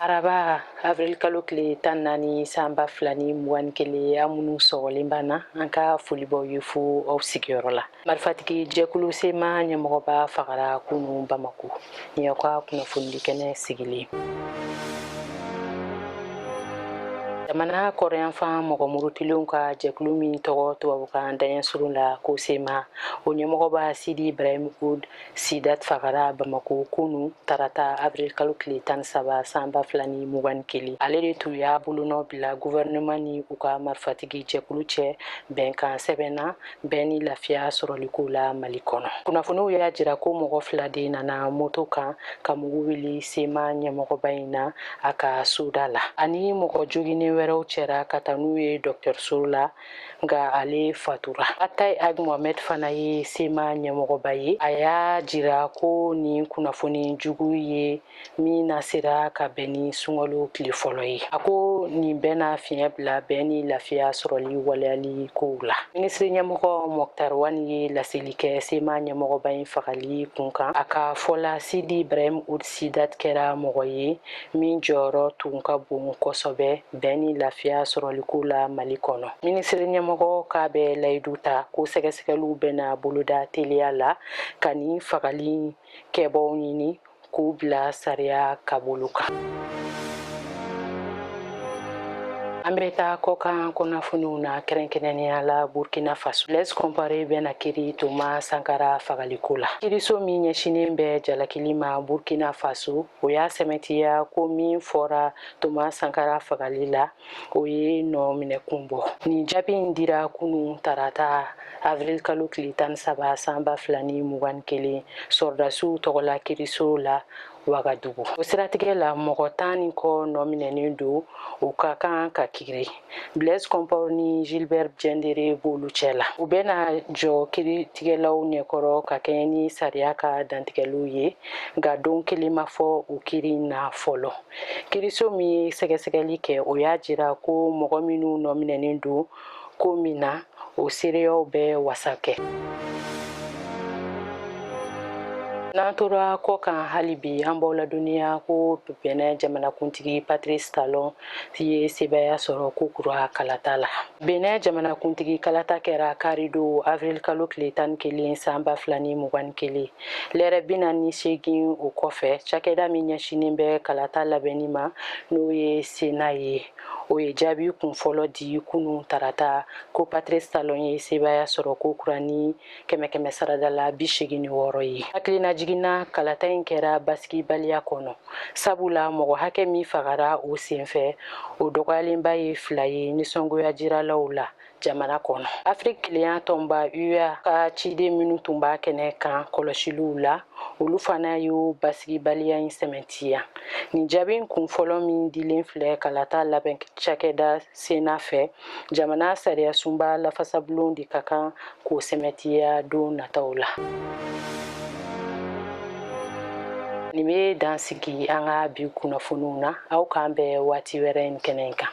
araba avril kalo tile tan naani san ba fila ni mugan ni kelen aw minnu sɔgɔlen b'an na an ka foli b'aw ye fo aw sigiyɔrɔ la marifatigi jɛkulu sema ɲɛmɔgɔba fagara kunu bamako nin y'aw ka kunnafonidi kɛnɛ sigilen jamana kɔrɔyanfan mɔgɔ murutilenw ka jɛkulu min tɔgɔ tubabukan daɲɛ surun la ko sema o ɲɛmɔgɔba sidi ibrahim ud sidat fagara bamako kunu tarata avril kalo tile tan ni saba san ba fila ni mugan ni kelen ale de tun y'a bolonɔ bila guvɛrɛnɛman ni u ka marifatigi jɛkulu cɛ bɛnkan sɛbɛn na bɛn ni lafiya sɔrɔliko la mali kɔnɔ kunnafoniw y'a jira ko mɔgɔ fila de nana moto kan ka mugu wuli sema ɲɛmɔgɔba in na a ka soda la ani mɔgɔ joginnen wɛrɛw cɛra ka taa n'u ye dɔgɔtɔrɔso la nka ale fatura atayi ag mohamɛd fana ye sema ɲɛmɔgɔba ye a y'a jira ko nin kunnafoni jugu ye min na sera ka bɛn ni sunkalo tile fɔlɔ ye a ko nin bɛna fiɲɛ bila bɛn ni lafiya sɔrɔli waleyali kow la minisiri ɲɛmɔgɔ mɔktar wani ye laseli kɛ sema ɲɛmɔgɔba in fagali kun kan a ka fɔ la sidi ibrahim ud sidat kɛra mɔgɔ ye min jɔyɔrɔ tun ka bon kosɛbɛ bɛn ni lafiya sɔrɔliko la mali kɔnɔ minisiri ɲɛmɔgɔ k'a bɛ layidu ta ko sɛgɛsɛgɛliw bɛna boloda teliya la ka nin fagali kɛbaaw ɲini k'u bila sariya ka bolo kan an bɛ taa kɔkan kunnafoniw na kɛrɛnkɛrɛnnenya la burkina faso blaise compaore bɛna kiri toma sankara fagaliko la kiriso min ɲɛsinen bɛ jalakili ma burkina faso o y'a sɛmɛntiya ko min fɔra toma sankara fagali la o ye nɔ minɛ kun bɔ nin jaabi in dira kunu tarata avril kalo tile tan saba san ba fila ni mugan ni kelen sɔrɔdasiw tɔgɔla kiriso la wagadugu o siratigɛ la mɔgɔ tan ni kɔ nɔ minɛnen don u ka kan ka kiri Blaise Compaore ni Gilbert Diendere b'olu cɛ la. U bɛna jɔ kiritigɛlaw ɲɛkɔrɔ ka kɛɲɛ ni sariya ka dantigɛliw ye, nka don kelen ma fɔ o kiri na fɔlɔ. Kiriso min ye sɛgɛsɛgɛli kɛ, o y'a jira ko mɔgɔ minnu nɔminɛnen don ko min na, o seereyaw bɛ wasa kɛ. N'an tora kɔ kan hali bi, an b'aw ladɔnniya ko Bɛnɛn jamanakuntigi Patrice Talon ye sebaaya sɔrɔ ko kura kalata la benɛ jamanakuntigi kalata kɛra karidon avril kalo tile tan ni kelen san ba fila ni mugan ni kelen lɛrɛ bi naani seegin o kɔfɛ cakɛda min ɲɛsinin bɛ kalata labɛnni ma n'o ye sena ye o ye jaabi kunfɔlɔ di kunu tarata ko patrice talon ye sebaaya sɔrɔ ko kura ni kɛmɛ kɛmɛ saradala bi segin ni wɔɔrɔ ye hakilina jiginna kalata in kɛra basigibaliya kɔnɔ sabula mɔgɔ hakɛ min fagara o senfɛ o dɔgɔyalenba ye fila ye nisɔngoya jiralaw la jamana kɔnɔ afiriki kelenya tɔnba ua ka ciden minnu tun b'a kɛnɛ kan kɔlɔsiliw la olu fana y'o basigibaliya in sɛmɛntiya nin jaabi kunfɔlɔ min dilen filɛ kalata labɛn cakɛda cena fɛ jamana sariyasunba lafasabulon de ka kan k'o sɛmɛntiya don nataw la nin bɛ dan sigi an ka bi kunnafoniw na aw k'an bɛn waati wɛrɛ in kɛnɛ kan